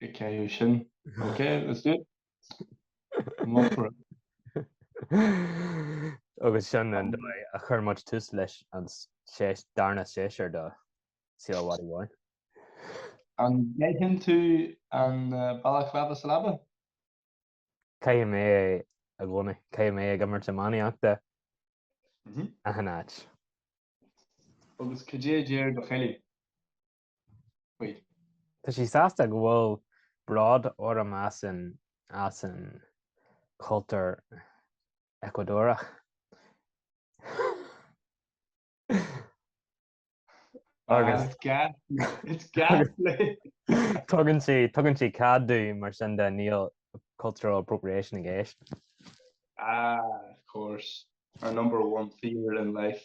Go cé sin. Ok, let's do it. I'm up for it. Agus sin an dóigh a chuir muid tús leis an sé- darna séasúr de Seal Mhadaidh Mhóir. An gcaitheann tú an balaclava sa leaba? Caithim é i gcónaí. Caithim é ag imirt iománaíochta Mhm. achan áit. Agus cad é a deir do chéile? Faoi. Tá sí sásta go bhfuil bród orm as an as an cultúr Eacuadóireach. Agus It's gas tugann sí tugann sí cead domh mar sin de níl cultural appropriation i gceist. Ah, of course. Our number one fear in life.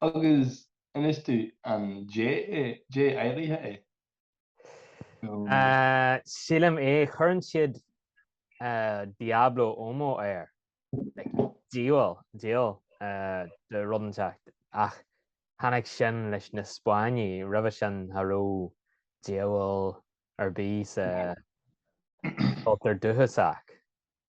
Agus inis domh an dia áirithe é? Sílim é. Chuireann siad Diablo Huma air, diabhal, diabhal de rud inteacht. Ach tháinig sin leis na Spáinnigh, roimhe sin cha raibh diabhal ar bith sa chultúr dúchasach.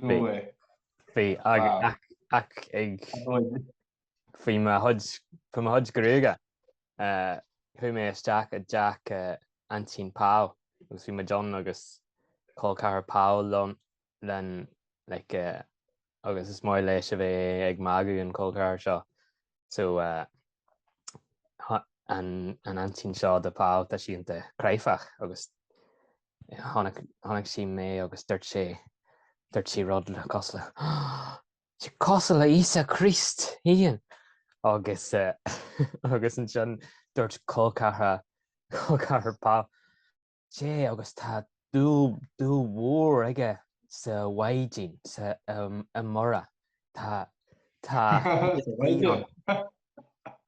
Bhí. Bhí ach ag bhí mo chuid bhí mo chuid gruaige chuaigh mé isteach i dteach aintín Pau agus bhí muid ann agus chol ceathrar Pau liom len like agus is maith leis a bheith ag magadh an col ceathrar seo so an aintín seo de Pau tá sí iontach cráifeach agus Chonaic sí mé agus dúirt sí, dúirt sí rud cosúil le, Sea, cosúil le Íosa Críost féin! Agus, agus ansin dúirt col ceathra, col ceathrar Pau, Sea, agus tá dúil, dúil mhór aige sa Mhaighdean, sa, i Mhuire. Tá, tá,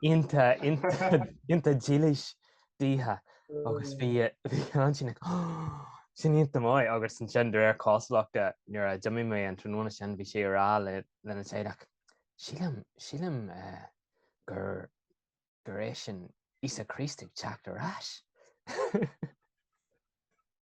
Iontach iontach dílis dithe agus bhí bhí an aintín ag, sin iontach maith agus ansin de réir cosúlachta nuair a d'imigh mé an tráthnóna sin bhí sé a rá le lena teaghlach sílim sílim eh, gur gur é sin Íosa Críost ag teacht ar ais.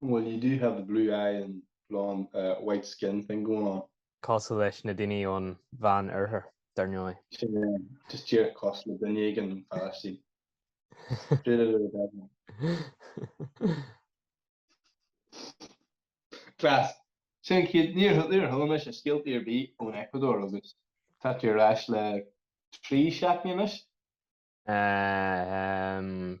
Well, you do have the blue eye and blonde, uh, white skin thing going on. Cosúil leis na daoine ón Mheánoirthear, dar ndóigh. Sin é, just díreach cosúil le duine éigin ón Phalaistín. Straight out of the Bible. Class. Sin chéad, níor níor chuala mise scéaltaí ar bith ón Ecuador agus tá tú ar ais le trí seachtaine anois. Um,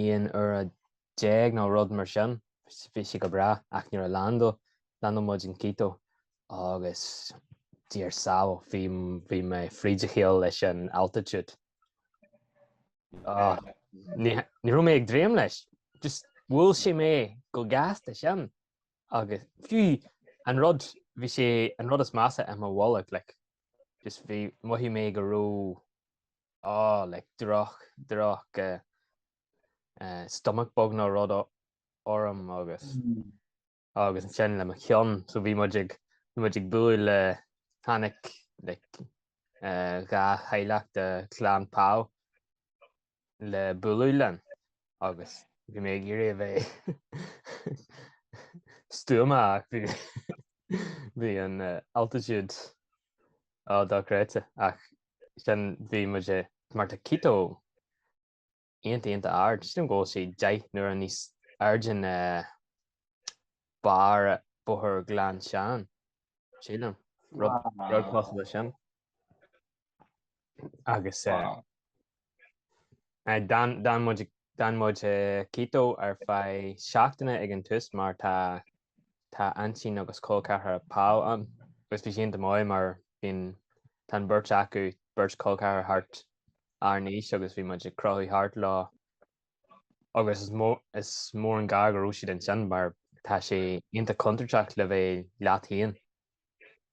aon uair déag nó rud mar sin. Bhí sé go breá ach nuair a land, landáil muid in Quito agus Dia ár sábháil bhí mé fríd a chéile leis an altitude. Ah, ní ní raibh mé ag dréim leis, just bhuail sé mé chomh gasta sin agus fiú an rud bhí sé an rud is measa i mo bholg like just bhí mhothaigh mé go raibh oh like droch droch eh stomach bug nó rud orm agus agus ansin le mo cheann so bhí muid ag bhí muid ag bualadh le tháinig like eh dhá theaghlach de chlann Pau le bualadh linn agus bhí mé ag iarraidh a bheith stuama ach bhí bhí an altitude Ó, dochreidte, ach sin, bhí muid i, mar tá Quito iontach, iontach ard, sílim go bhfuil sé deich n-uaire níos airde ná barr Bóthar Ghleann Seáin, sílim, rud, rud cosúil leis sin. agus d'fhan muid i Quito ar feadh seachtaine ag an tús mar tá tá aintín agus col ceathrar Pau ann agus bhí sé iontach maith mar bíonn tá an beirt acu beirt col ceathrar thart ár n-aois agus bhí muid ag crochadh thart leo agus is mór is mór an gar go raibh siad ansin mar tá sé iontach contúirteach le bheith leat féin.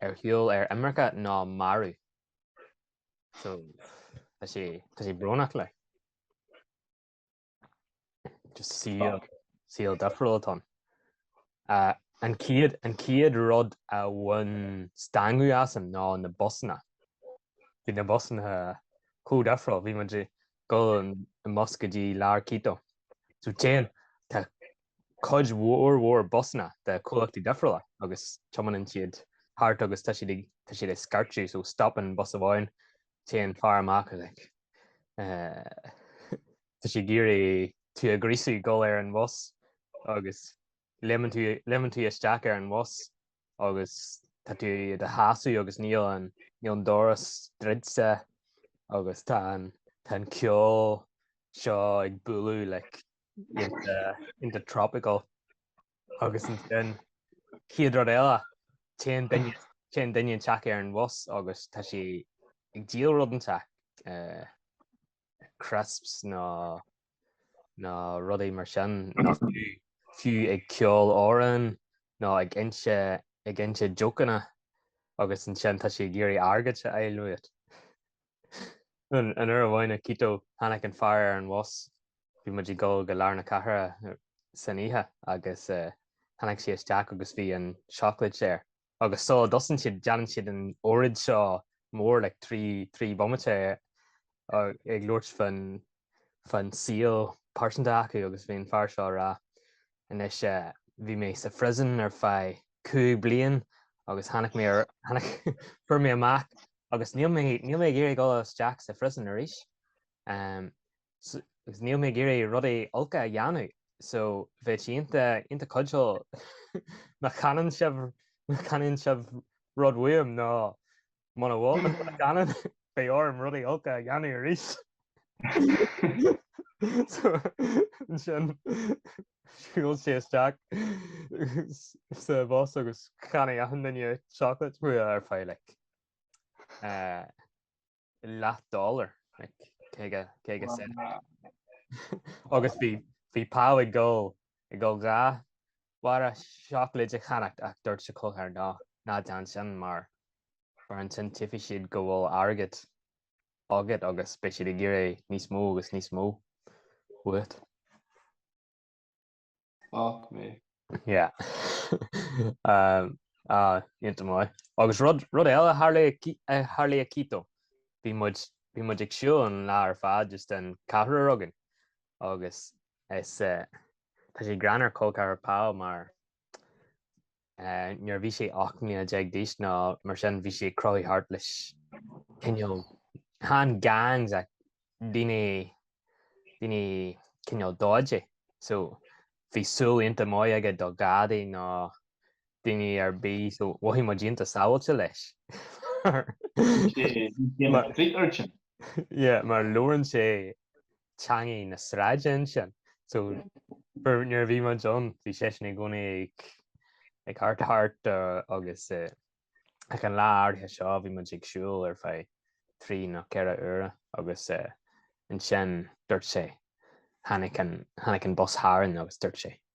ar shiúl ar imirce nó marbh. So tá sé tá sé brónach like. Just saol saol difriúil atá ann. Uh, an céad an céad rud a bhain stangadh asam ná na busanna. Bhí na busanna chomh difriúil bhí muid ag dul i mbus go dtí lár Quito. So téann tá cuid mhór mhór busanna de chomhlachtaí difriúla agus tiomáineann siad thart agus tá siad ag, tá siad ag scairteadh so stopann bus amháin, téann fear amach is like tá sé ag iarraidh tú a ghríosadh dul ar an bhus agus léimeann tú, léimeann tú isteach ar an bhus agus tá tú i do sheasamh agus níl an, níl an doras druidte agus tá an, tá an ceol seo ag bualadh like. iontach tropical agus ansin chéad rud eile téann duine téann duine inteacht ar an bhus agus tá sé ag díol rud inteacht eh, crisps nó nó rudaí mar sin nó fiú fiú ag ceol amhrán nó ag inse ag inse jokeanna agus ansin tá sé ag iarraidh airgead a fháil uait. An uair amháin i Quito tháinic an fear ar an bhus. Bhí muid ag dul go Lár na Cathrach san oíche agus tháinic sí isteach agus bhí an chocolate air. Agus so dosaen siad déanann siad an óraid seo mór like trí trí bhomaite ag labhairt fa'n saol pearsanta acu agus bhí an fear seo ag rá Anois eh, bhí mé sa phriosún ar feadh cúig bliain agus tháinig mé ar, tháinig, fuair mé amach agus níl mé, níl mé ag iarraidh dul isteach sa phriosún arís. em, so, agus níl mé ag iarraidh rudaí olca a dhéanamh so bheadh sé ionta, ionta cuidiúil má cheannann sibh, má cheannann sibh rud uaim nó, Muna gceannann, beidh orm rudaí olca a dhéanamh arís. So, ansin, shiúil sé isteach sa bhus agus cheannaigh achan duine chocolate uaidh ar feadh, like, leathdhollar, like, caoga, caoga cent. Agus bhí, bhí Pau ag dul, ag dul dhá, bharra seacláid a cheannacht ach dúirt a chol ceathrar ná déan sin mar mar ansin tuigfidh siad go bhfuil airgead agat agus beidh siad ag iarraidh níos mó agus níos mó uait. Fuck me. Yeah. Ah, ionta maith. Agus rud rud eile a tharla i Quito, bhí muid bhí muid ag siúl an lá ar fad just an ceathrar againn agus is eh, Tá sé greannmhar col ceathrar Pau mar nuair a bhí sé 18 mbliana d'aois nó mar sin bhí sé ag crochadh thart leis cineál chan gangs ach daoine daoine cineál dodgy so bhí súil ionta maith aige do ghadaí nó daoine ar bith so mhothaigh muid ionta sábháilte leis mar mar labhrann sé teangaidh na sráide ansin so nuair a bhí muid ann bhí seisean i gcónaí ag ag thart thart agus ach an lá áirithe seo bhí muid ag siúl ar feadh trí nó ceithre uaire agus ansin dúirt sé tháinig an tháinig an bus tharainn agus dúirt sé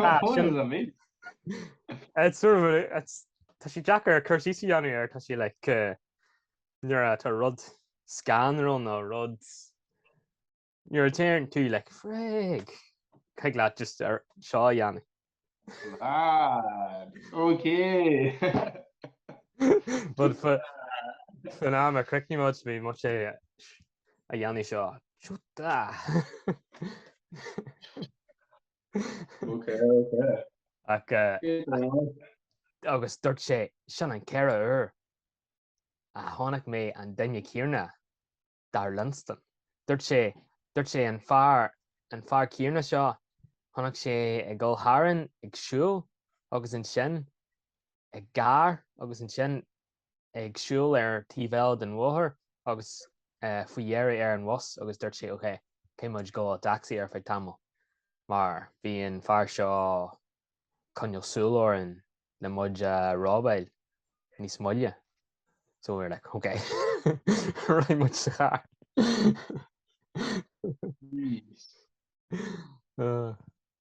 Ah, sin- Bhuel, I mean. It's sort of a- it's- Tá sé deacair cur síos a dhéanamh air tá sé like nuair a tá rud scanrúil nó rud nuair a téann tú like frig thig leat just é seo a dhéanamh. Ah, okay. But fa- fán am ar chríochnaigh muid bhí muid sé a dhéanfaidh seo. Ok, ok. Agus dúirt sé, Sin an ceathrú uair a chonaic mé an duine céanna, dar Lynston. Dúirt sé, dúirt sé, an fear, an fear céanna seo, chonaic sé ag gabháil tharainn ag siúl agus ansin i gcarr agus ansin ag siúl ar taobh eile den bhóthar agus faoi dheireadh ar an bhus agus dúirt sé ok, gheobhaidh muid i dtacsaí ar feadh tamaill mar bhí an fear seo ag coinneáil súil orainn le muid a robáil níos moille. So we were like, ok, right, muid sa charr.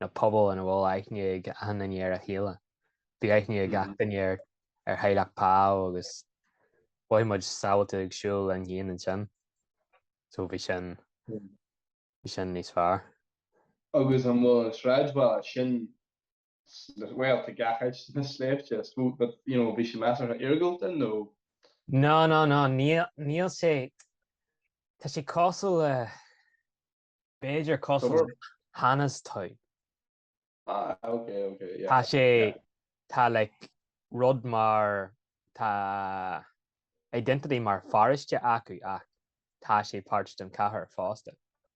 na pobail ina bhfuil aithne ag achan duine ar a chéile. Bhí aithne ag achan duine ar ar theaghlach Pao agus bhí muid sábhailte ag siúl linn féin ansin. So bhí sin bhí sin níos fearr. Agus an bhfuil an sráidbhaile sin sna, bhuel, tá gach áit sna sléibhte is dócha but, you know, bhí sé measartha iargúlta nó? No, no, no, níl, níl sé, tá sé cosúil le. B'fhéidir cosúil le Hannahstown. Ah, ok, ok, yeah. Tá sé, tá like rud mar, tá identity mar pharóiste acu ach tá sé páirt den chathair fosta.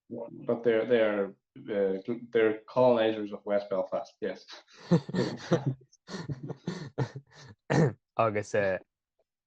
But they're, they're, uh, they're colonizers of West Belfast, yes. Agus uh,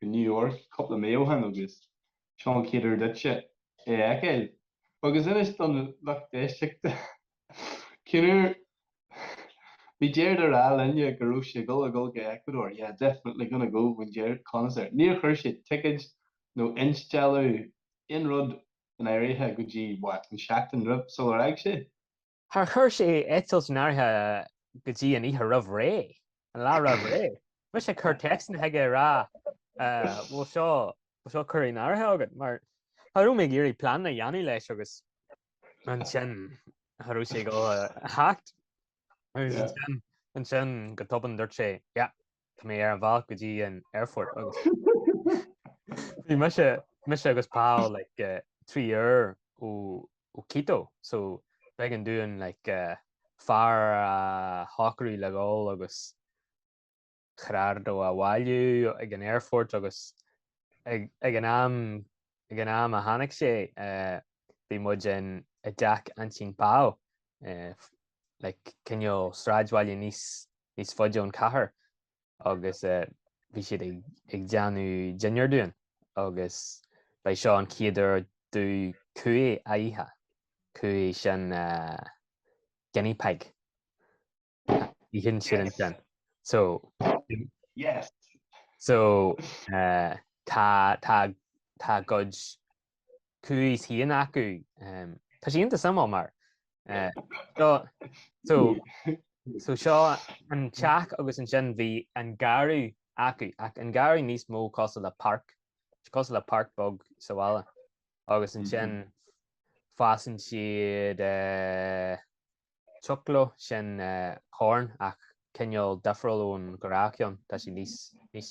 go New York cúpla mí ó shin agus sin an chéad uair duitse é a fheiceáil agus inis don lucht éisteachta cén uair bhí Gerard ag rá linne go raibh sé ag dul ag dul go Ecuador yeah definitely gonna go when Gerard comes there níor chuir sé ticéad nó instealladh aon rud in áirithe go dtí what an seachtain roimh sular fhág sé. Char chuir sé eitilt in áirithe go dtí an oíche roimh ré, an lá roimh ré. Bhí mise ag cur téacsanna chuige ag rá bhfuil seo bhfuil seo curtha in áirithe agat mar cha raibh mé ag iarraidh pleananna a dhéanamh leis agus ansin cha raibh sé ag gabháil a theacht ansin go tobann dúirt sé yeah Tá mé ar an bhealach go dtí an aerfort agus bhí mise mise agus Paul like uh, trí uair ó ó Quito so b'éigean dúinn like uh, fear a shocrú le dhul agus Gerardo a bhailiú ag an aerfort agus ag, ag an am ag an am a tháinig sé uh, bhí muid i dteach aintín Pao uh, like cineál sráidbhaile níos níos faide ón cathair agus bhí siad ag déanamh dinnéir dúinn agus ba é seo an chéad uair domh cuy a ithe, cuy sin guinea pig a itheann siad ansin. So yes so tá tá tá a gcuid cuys fhéin acu. Tá sé iontach suimiúil mar so so seo an teach agus ansin bhí an garradh acu ach an garradh níos mó cosúil le páirc. Is cosúil le páirc beag sa bhaile agus ansin fásann siad choclo sin corn ach cineál difriúil ón ghnáthcheann. Tá sé níos níos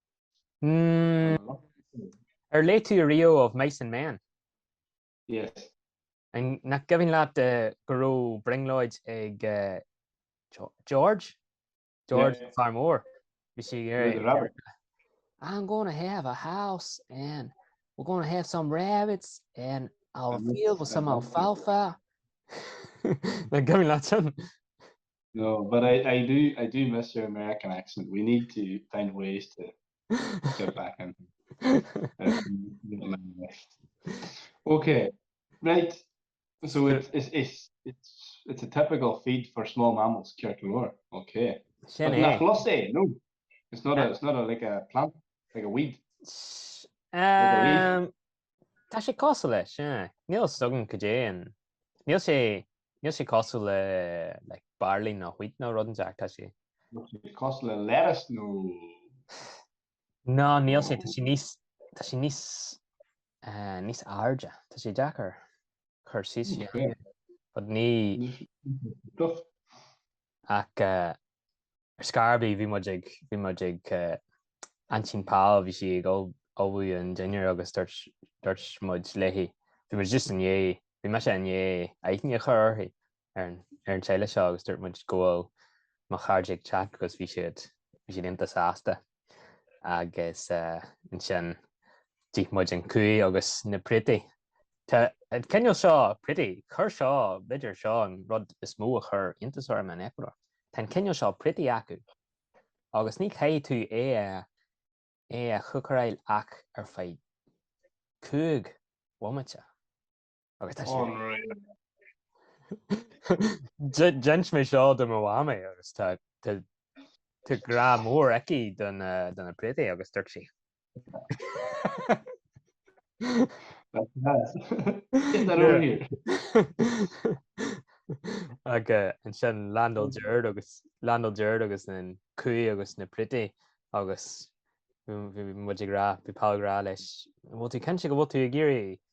Ar léigh tú riamh Of Mice and Men? Yes. Nach gcuimhin leat go raibh brionglóid ag George? George an fear mór? Bhí sé Robert. I'm going to have a house and we're going to have some rabbits and a field with some alfalfa. Nach gcuimhin leat sin? No, but I, I do, I do miss your American accent, we need to find ways to get back in Ok, right, so it's, it's, it's, it's, it's a typical feed for small mammals, Cirt Mhór, ok. Sin é. Nach lus é, no? It's not a, it's not a, like a plant, like a weed. Tá sé cosúil leis, yeah. Níl a fhios agam go dté an, níl sé Níl sé cosúil le like barley nó wheat nó rud inteacht tá sé. Níl sé cosúil le lettuce nó. No níl sé tá sé níos tá sé níos eh, níos airde tá sé deacair cur síos fiú. But ní. Stuff. Ach eh, Ar scor ar bith bhí muid ag bhí muid ag Aintín Pal bhí sí ag ullmhú an dinnéir agus dúirt dúirt muid léi bhí muid just i ndiaidh bhí mise i ndiaidh aithne a chur uirthi ar an ar an teaghlach seo agus dúirt muid go bhfuil mo chairde ag teacht agus bhí siad bhí siad iontach sásta. agus ansin d'ith muid an cuy agus na préataí. Tá an cineál seo préataí, chuir seo, b'fhéidir seo an rud is mó a chuir iontas orm in Eacuadór, tá an cineál seo préataí acu agus ní chaithfidh tú é a chócaráil ach ar feadh cúig bhomaite. Agus tá sé. Unreal. D'inis mé seo do mo mhamaí agus tá tá grá mór aici do na préataí agus dúirt sí. Get that over here. Agus ansin landáil Jared agus landáil Jared agus an cuy agus na préataí agus bhí muid ag rá bhí Pal ag rá leis bhfuil tú cinnte go bhfuil tú ag iarraidh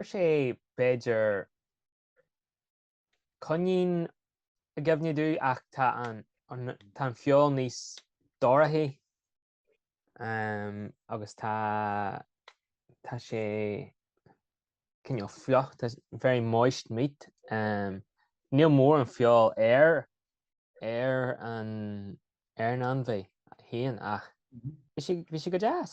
Chuir sé, b'fhéidir, coinín i gcuimhne dúinn ach tá an, tá an feoil níos dorchaí agus tá, tá sé cineál fliuch, tá, very moist meat. Níl mórán feoil ar, ar an, ar an ainmhí féin ach bhí sé, bhí sé go deas.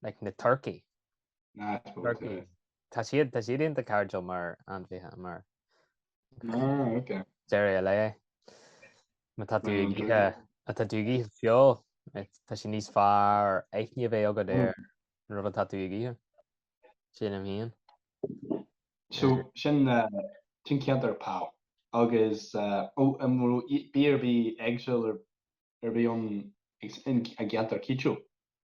Like na turkeys. Ah I suppose so yeah. Tá siad tá siad iontach cairdiúil mar ainmhithe mar Ah ok. deireadh a lae. Má tá tú ag ithe má tá tú ag ithe feoil tá sé níos fearr aithne a bheith agad ar an rud atá tú ag ithe. Sin mo bharúil féin. So sin sin ceantar Pau agus ó an bhfuil bia ar bith éagsúil ar bith ann ag an gceantar Quito?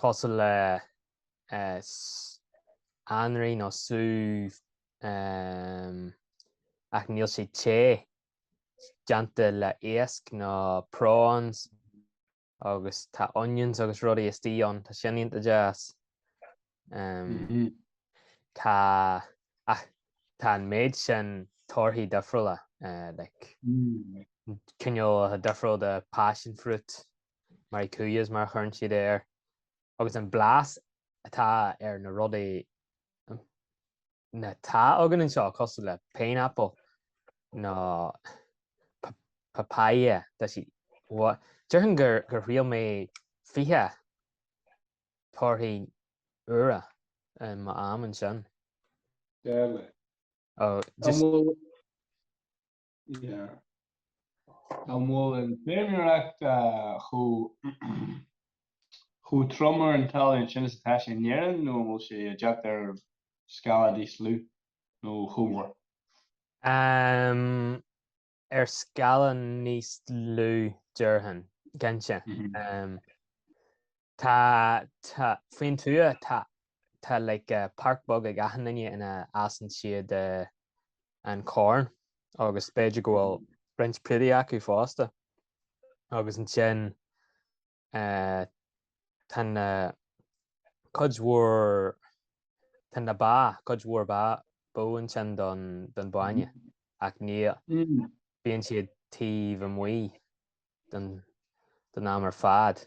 cosúil le anraith nó sú ach níl sé te déanta le iasc ná prawns agus tá onions agus rudaí istigh ann tá sin iontach deas. Tá ach tá an méid sin torthaí difriúla like cineál difriúil de passion fruit Maracuyás mar a chuireann siad air agus an blas atá ar na rudaí atá againn anseo cosúil le pineapple nó papaya tá siad uaidh. Déarfainn gur gur thriail mé fiche torthaí úra i m'am ansin. Deadly. An bhfuil An bhfuil an fheirmeoireacht chomh trom ar an talamh ansin is atá sé in Éirinn nó an bhfuil sé ag teacht ar scála níos lú nó chomh mór? Ehm, ar scála níos lú déarfainn, cinnte. Tá, tá, faoin tuath tá, tá like páirc bheag ag achan duine ina fhásann siad an Corn agus b'fhéidir go bhfuil roinnt prátaí acu fosta agus ansin tá na cuid mhór tá na ba cuid mhór ba bó ansin don bhainne ach ní bíonn siad taobh amuigh don am ar fad.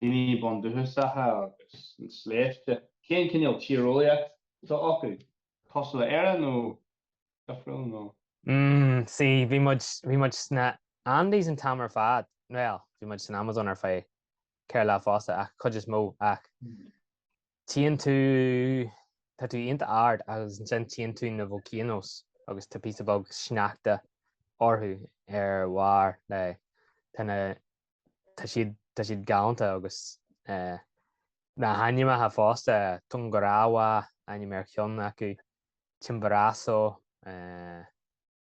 daoine bundúchasacha agus na sléibhte, cén cineál tíreolaíocht atá acu, cosúil le Éire nó difriúil nó. Mm, sea, bhí muid, bhí muid sna Andes an t-am ar fad, bhuel, bhí muid san Amazon ar feadh ceithre lá fosta ach cuid is mó ach. Tíonn tú, tá tú iontach ard agus ansin tíonn tú na volcanoes agus tá píosa beag sneachta orthu ar bharr le, tá na, tá siad, tá siad galánta agus eh na h-ainmneacha fosta, Tungurahua, ainm ar cheann acu, Chimborazo, eh.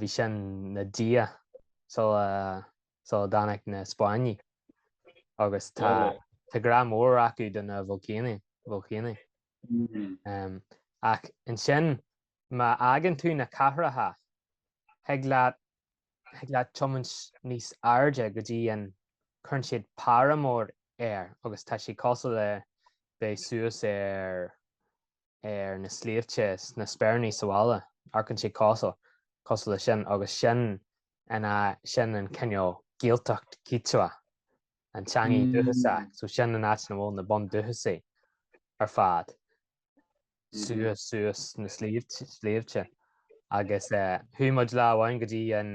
bhí sin ina dhia sula sula dtáinig na Spáinnigh agus tá tá grá mór acu do na bolcáin. Ach ansin má fhágann tú na cathracha thig leat thig leat tiomáint níos airde go dtí an cuireann siad páramo air agus tá sé cosúil le bheith suas ar ar na sléibhte na Speiríní sa bhaile, amharcann sé cosúil, cosúil le sin, agus sin an, sin an cineál Gaeltacht Kichwa, an teangaidh dúchasach, so sin an áit ina bhfuil na bundúchasaigh ar fad, suas, suas na sléibhte, agus chuaigh muid lá amháin go dtí an,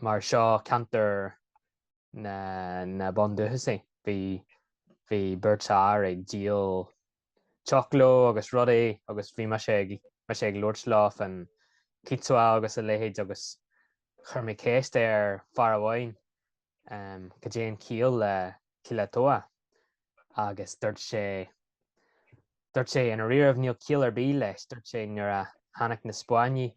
mar seo ceantar na bundúchasaigh. Bhí bhí beirt fhear ag díol choclo agus rudaí agus bhí mise ag mise ag labhairt leo fán Kichwa agus a leithéid agus chuir mé ceist ar fhear amháin goidé an chiall le Quilotoa agus dúirt sé dúirt sé i ndáiríribh níl ciall ar bith leis dúirt sé nuair a tháinig na Spáinnigh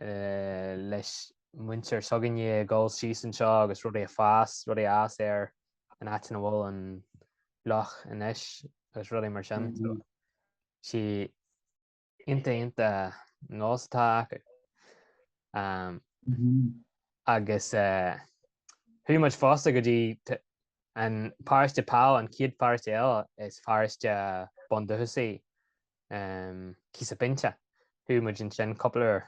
leis muintir s'againne ag dul síos anseo agus rudaí a fhás, rudaí a fhás ar an áit ina bhfuil an loch anois agus rudaí mar sin. Is iontach iontach an nós atá acu. Um, mm -hmm. agus uh, chuaigh muid fosta go dtí an paróiste pa an chéad pharóiste eile is paróiste uh, bundúchasaigh Quisapincha. Chuaigh muid ansin cúpla uair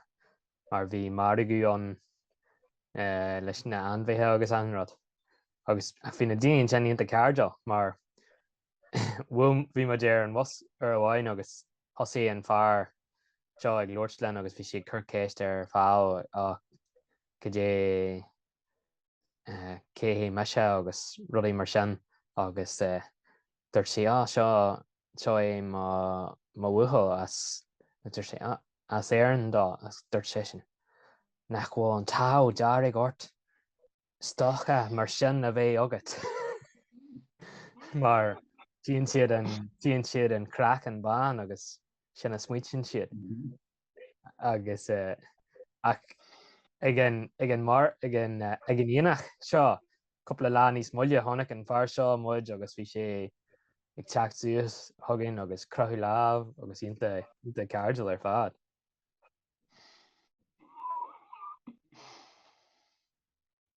mar bhí margadh ann leis na hainmhithe agus achan rud. Agus bhí na daoine ansin iontach cairdiúil mar bhí muid ar an bhus uair amháin agus thosaigh an fear seo ag labhairt linn agus bhí sé ag cur ceist ar Pheadh goidé cé hé mise agus rudaí mar sin agus dúirt sí, Á seo seo é mo bhuachaill as a dúirt sé, as Éirinn dó a dúirt seisean. Nach bhfuil an t-ádh dearg ort stócach mar sin a bheith agat mar tíonn siad an craiceann bán agus sin a smaoitíonn siad. agus eh, ach ag an, ag an mar, ag an, eh, ag an eitneach seo, cúpla lá níos moille, tháinig an fear seo amach agus bhí sé ag teacht suas chugainn agus croitheadh lámh agus iontach, iontach cairdiúil ar fad.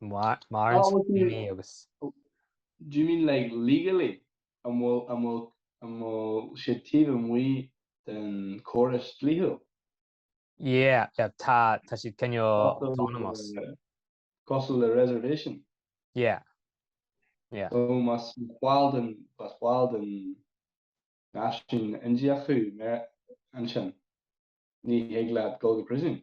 Mar agus. Do you mean like legally? An bhfuil, an bhfuil, an bhfuil sé taobh amuigh den córas dlíthiúil? Yeah, yeah, tá, tá siad cineál autonomous. Cosúil le reservation? Yeah, yeah. So más ball den, más ball den náisiún Indiach thú, Amer, ansin, ní thig leat dul go príosún?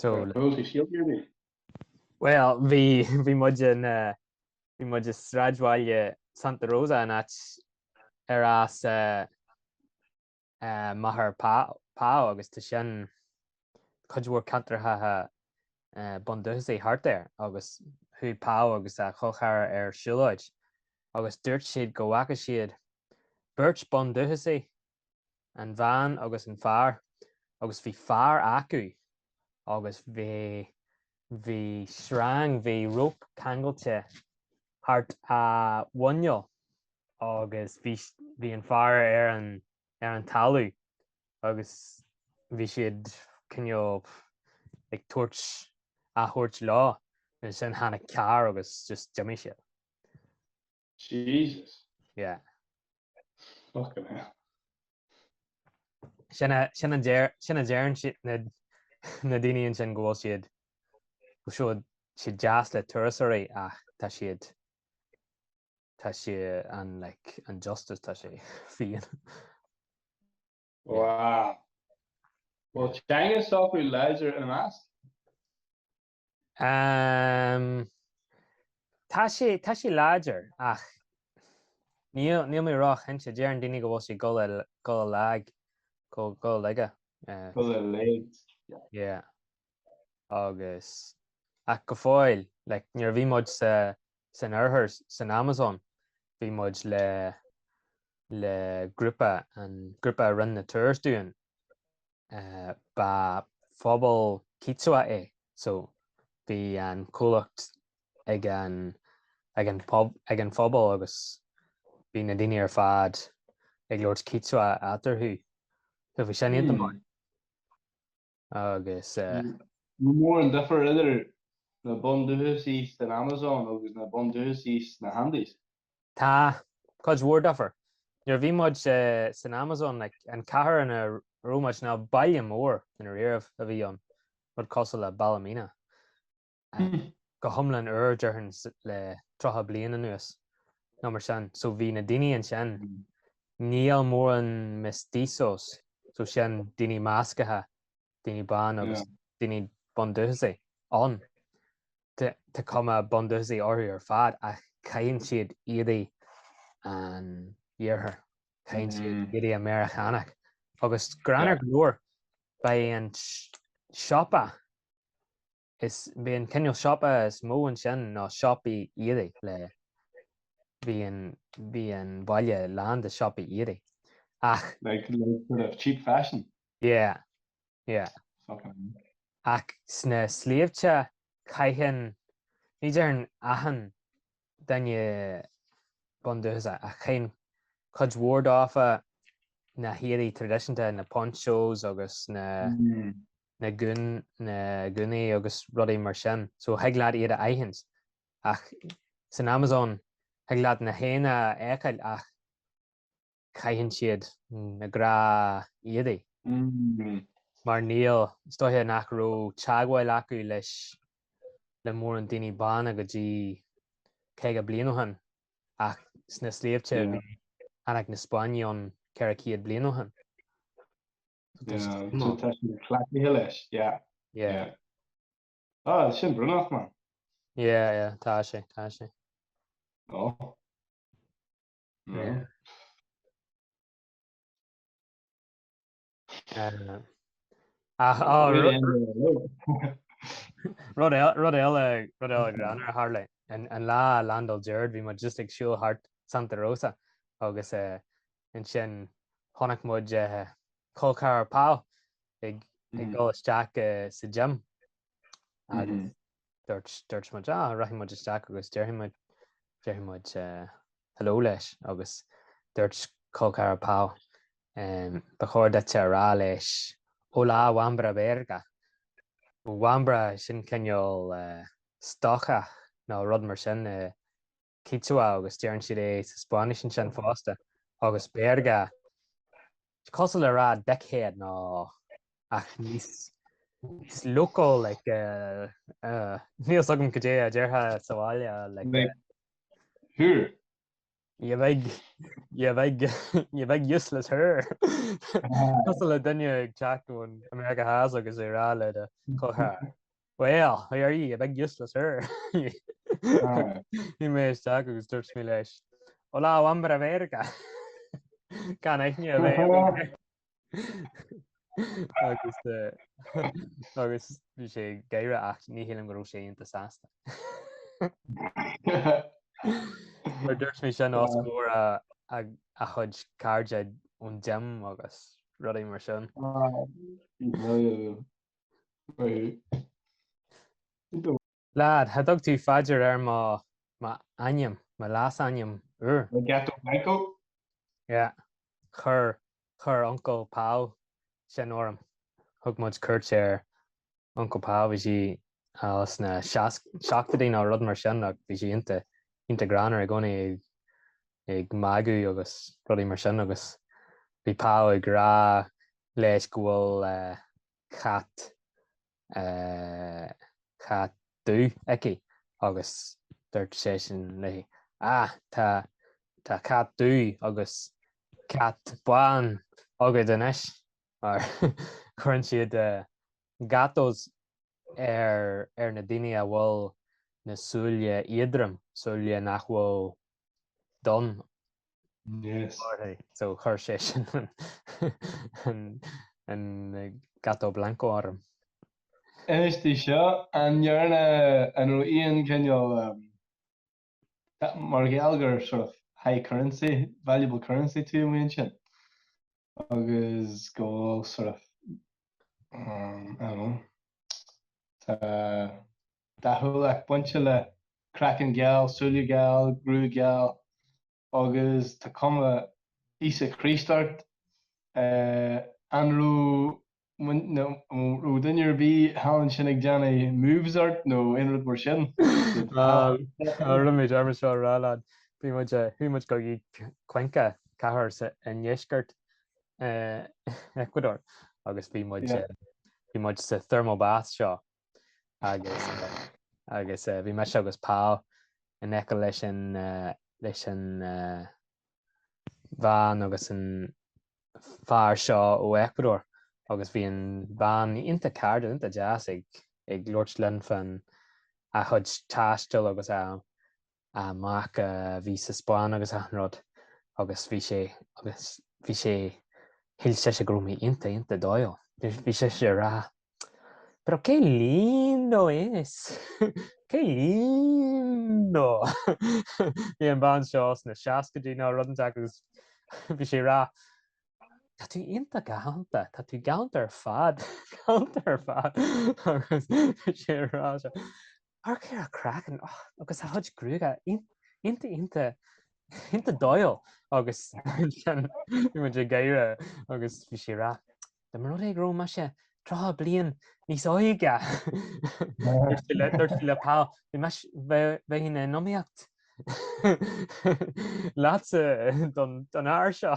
Tá Tá rud a shíl mé. Bhuel, bhí, bhí muid in, bhí muid i sráidbhaile Santa Rosa, an áit ar as máthair Pau agus tá sin cuid mhór ceantracha bundúchasacha thart air agus chuaigh Pau agus a cholcheathrar ar siúlóid agus dúirt siad go bhfaca siad beirt bundúchasaigh an bhean agus an fear agus bhí fear acu agus bhí bhí sreang bhí rope ceangailte thart ar a mhuineál agus bhí bhí an fear ar an ar an talamh agus bhí siad cineál ag tabhairt á thabhairt leo ansin tháinig car agus just d'imigh siad. Jesus. Yeah. Fucking hell. Sin a sin an déir sin a déan si na na daineíonn sin ghil siad go siú si jazz le tuairí ach tá siad tá si an le an justice tá sé fion. Wow. Well, China software ledger and mask. Ehm. tá sé, tá sé láidir ach níl, níl mé ró-chinnte. Deireann daoine go bhfuil sé ag dul i, ag dul i lag, go, ag dul i laige. Eh. Ag dul i laghad. Yeah. Agus, ach go fóill, like nuair a bhí muid sa, san oirthear, san Amazon, bhí muid le, le grúpa, an grúpa a rinne na tours dúinn, Ba phobal Quechua é so bhí an comhlacht ag an ag an ag an phobal agus bhí na daoine ar fad ag labhairt Quechua eatarthu. So bhí sin iontach maith. Agus eh. An mór an difear idir na bundúchasaigh san Amazon agus na bundúchasaigh sna hAndes. Tá, cuid mhór daofa. Nuair a bhí muid san Amazon, an cathair ina raibh muid, ná baile mór i ndáiríre a bhí ann, rud cosúil le Ballymena, go hiomlán úr, déarfainn, le tríocha bliain anuas nó mar sin. So bhí na daoine ansin, níl mórán mestizos, so sin daoine measctha, daoine bána agus daoine bundúchasacha ann. Tá cuma bundúchasaí orthu ar fad ach caitheann siad éadaí an iarthair, caitheann siad éadaí Meiriceánacha. Agus greannmhar go leor, ba é an siopa, ba é an cineál siopa is mó ansin ná siopaí éadaí le, bhí an baile lán de siopaí éadaí ach. Like sort of cheap fashion? Yeah, Yeah. Ach sna sléibhte caitheann, ní déarfainn achan duine bundúchasach, ach caitheann cuid mhór daofa na héadaí traidisiúnta, na ponchos agus na na gún, na gúnaí agus rudaí mar sin. So thig leat iad a aithint. Ach san Amazon thig leat na haghaidheanna a fheiceáil ach caitheann siad na gnáthéadaí. Mar níl, is dóiche nach raibh teagmháil acu leis le mórán daoine bána go dtí caoga bliain ó shin, ach sna sléibhte tháinig na Spáinnigh ann ceithre chéad bliain ó shin. So tá siad cleachtaithe leis, yeah, yeah. Ah, sin brónach, man. Yeah, yeah, tá sé, tá sé. Oh. Rud eile greannmhar a tharla, an lá a landáil Gerard bhí muid just ag siúl thart Santa Rosa agus ansin chonaic muid col ceathrar Pau ag dul isteach sa gym agus dúirt muid, ah, rachaidh muid isteach agus déarfaidh muid, déarfaidh muid hello leis agus dúirt col ceathrar Pau, ba chóir duit a rá leis hola wambra verga, wambra sin cineál stócach nó rud mar sin i. Quichua agus deireann siad é sa Spáinnis ansin fosta, agus Verga. Is cosúil le rá dickhead nó ach níos local like níl 's agam goidé a déarfá sa bhaile like. Sure. You big you big you big useless whore. Cosúil le duine ag teacht ó Meiriceá Theas agus é a rá le do chomhthar. Bhuel, how are you, you big useless hoor? Chuaigh mé isteach agus dúirt mé leis, Hola hombre verga! Gan aithne a bheith aige. Agus eh, agus bhí sé ag gáire ach ní shílim go raibh sé iontach sásta. Mar dúirt mé sin os comhair a, a, a chuid cairde ón gym agus rudaí mar sin. Brilliant. Lad, cha dtug tú faidear ar mo, mo ainm, mo leas-ainm úr. Gato Blanco? Yeah. Chuir, chuir Uncle Pao sin orm. Thug muid cuairt ar Uncle Pao, bhí sí ann sna seasc, seachtaidí nó rud mar sin ach bhí sí iontach, iontach greannmhar i gcónaí. ag magadh agus rudaí mar sin agus bhí Pao ag rá leis go bhfuil cat, cat dubh aici agus dúirt seisean léi ah tá, tá cat dubh agus cat bán agad anois mar cuireann siad gatos ar, ar na daoine a bhfuil na súile éadroma, súile nach bhfuil. donn. So chuir seisean an gato blanco orm. Inis dom seo, an ndearna, an raibh aon chineál, mar gheall gur sort of high currency, valuable currency tú ann sin agus go bhfuil sort of, I don't know, tá dathúlacht bainte le craiceann geal, súile geal, gruaig gheal agus tá cuma Íosa Chríost ort. An raibh mná, nó an raibh duine ar bith thall ansin ag déanamh moves ort nó aon rud mar sin? Tá, an raibh mé ag dul seo a rá leat, bhí muid, chuaigh muid go dtí Cuenca, cathair sa, i ndeisceart Ecuador agus bhí muid, bhí muid sa thermal bath seo. agus agus eh, bhí mise agus Pao in aice leis an eh, leis an eh, bhean agus an fear seo ó Ecuador agus bhí an bhean iontach cairdiúil iontach deas ag ag labhairt linn fan a chuid taistil agus a a mac a bhí sa Spáinn agus achan rud agus bhí sé agus bhí sé shíl sise go raibh mé iontach iontach dóighiúil bhí bhí sise ag rá Pero qué lindo es! Qué lindo! Bhí an bhean seo sna seascaidí nó rud inteacht agus bhí sí ag rá Tá tú iontach galánta, tá tú galánta ar fad, galánta ar fad agus bhí sí ag rá seo Amharc ar a chraiceann agus a chuid gruaige iontach iontach iontach dóighiúil agus muid ag gáire agus bhí sí ag rá. Dá mba rud é go raibh mise tríocha bliain níos óige, dúirt sí le Paul, bheinn in iomaíocht leatsa don fhear seo.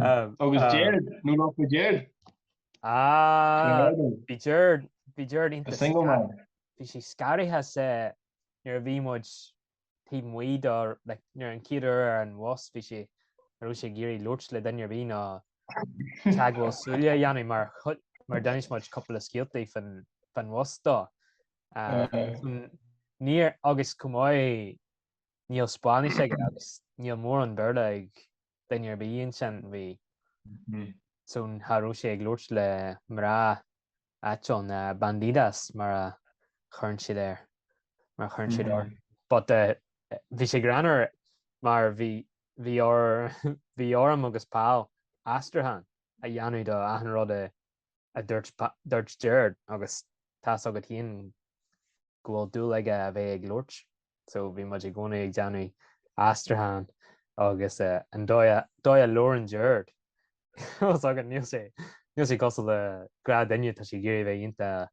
Agus Gerard, nó nach bhfuil Gerard? Ah, bhí Gerard, bhí Gerard iontach. The single man. Bhí sé scanraithe sa, nuair a bhí muid taobh amuigh do, like, nuair an chéad uair ar an bhus, bhí sé, cha raibh sé ag iarraidh labhairt le duine ar bith ná teagmháil súile a dhéanamh mar chuid, mar d'inis muid cúpla scéaltaí fán, fán bhus dó. Níor, agus chomh maith, níl Spáinnis aige agus níl mórán Béarla ag duine ar bith ansin bhí so cha raibh sé ag labhairt le mná áitiúla bandidas mar a chuireann siad air mar a chuireann siad orthu but bhí sé greannmhar mar bhí bhí orm agus Paul aistriúchán a dhéanamh do achan rud a a dúirt Gerard agus tá fhios agat féin go bhfuil dúil aige a bheith ag labhairt so bhí muid i gcónaí ag déanamh aistriúchán agus an dóigh a labhrann Gerard tá fhios agat níl sé cosúil le gnáthdhuine tá sé ag iarraidh a bheith iontach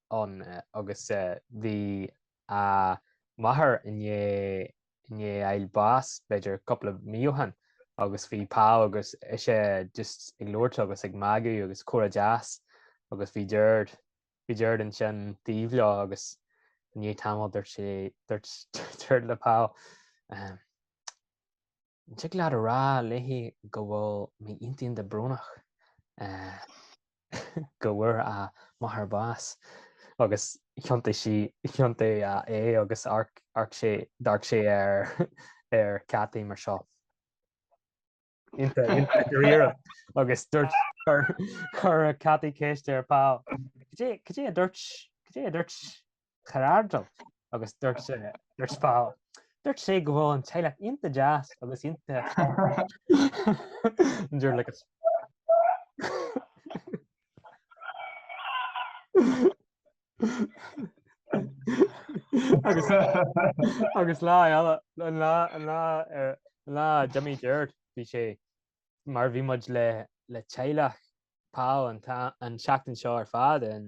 ann agus bhí a máthair i ndiaidh ag fáil bháis b'fhéidir cúpla mí ó shin agus bhí Paul agus ise just ag labhairt agus ag magadh agus comhrá deas agus bhí Gerard, bhí Gerard ansin taobh leo agus i ndiaidh tamaill dúirt sé, dúirt Gerard le Paul. An dtig leat a rá léi go bhfuil mé iontach iontach brónach go bhfuair a máthair bás agus thiontaigh sé thiontaigh sé agus amharc sé d'amharc sé ar Cathy mar seo iontach dáiríre agus dúirt chuir chuir Cathy ceist ar Paul Cad é cad é a dúirt cad é a dúirt char airdeall agus duirt sé duirt fá duirt sé go bhfuil an teaghlach iontach deas agus iontach dear like it's agus agus lá eile an lá an lá ar lá d'imigh Jared bhí sé mar bhí muid le le teaghlach Paul an an tseachtain seo ar fad an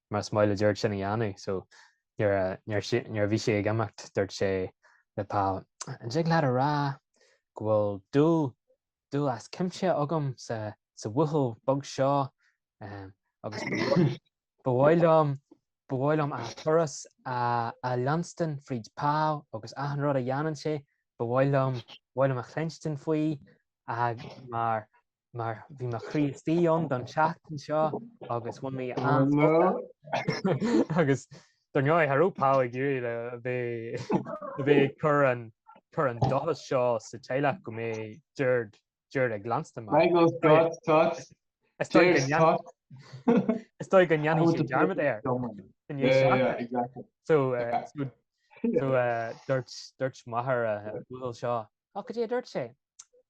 mar is maith le Jared sin a dhéanamh so nuair a bhí sé ag imeacht dúirt sé le Paul an dtig leat a rá go bhfuil dúil dúil as cuimse agam sa sa bhuachaill beag seo agus ba mhaith liom ba mhaith liom a thuras a a leanstan fríd Paul agus achan rud a dhéanann sé ba mhaith liom ba mhaith liom a chluinstin faoi ag mar mar bhí mo Chríostaí don tseachtain seo agus bhain mé an-spota agus don gnáth tharraing Paul ag iarraidh le bheith cur an cur an dóchas seo sa teaghlach go mbeidh Jared Jared ag leanstan mar. Michael Scott Scott Is dóigh go ndéanfaidh sé dearmad air. So dúirt dúirt m'athair a bhuachaill seo, ach go dtí a dúirt sé,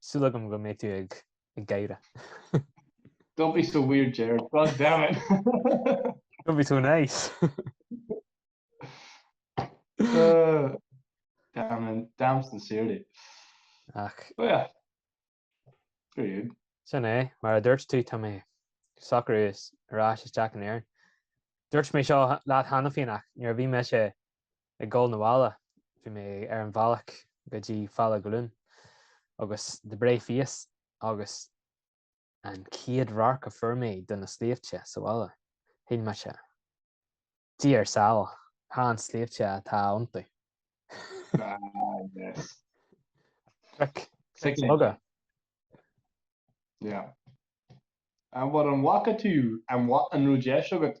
Súil agam go mbeidh tú ag gáire. Don't be so weird Jared, god damn it! Don't be so nice! Damn in, damn sincerely. Ach. But yeah. Very good. Sin é, mar a dúirt tú, tá mé socraithe ar ais isteach in Éirinn. Dúirt mé seo leat cheana féin ach nuair a bhí mise ag gul na bhaile bhí mé ar an bhealach go dtí Bhaile Dhún na nGall agus an céad radharc a fuair mé de na sléibhte sa bhaile shíl mise Dia ár sábháil chan sléibhte atá iontu. Cnoic bheaga. An bhfuil an bhfaca tú an rud deis agat?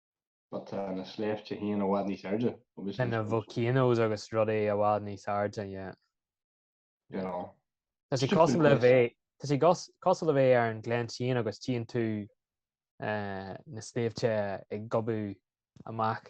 But tá na sléibhte féin i bhfad níos airde, obviously, I suppose. na volcanoes agus rudaí i bhfad níos airde, yeah. You know. Tá sé Stupid cosúil le place. bheith, tá sé gos- cosúil le bheith ar an gleann sin agus tíonn tú eh, na sléibhte ag gobadh amach.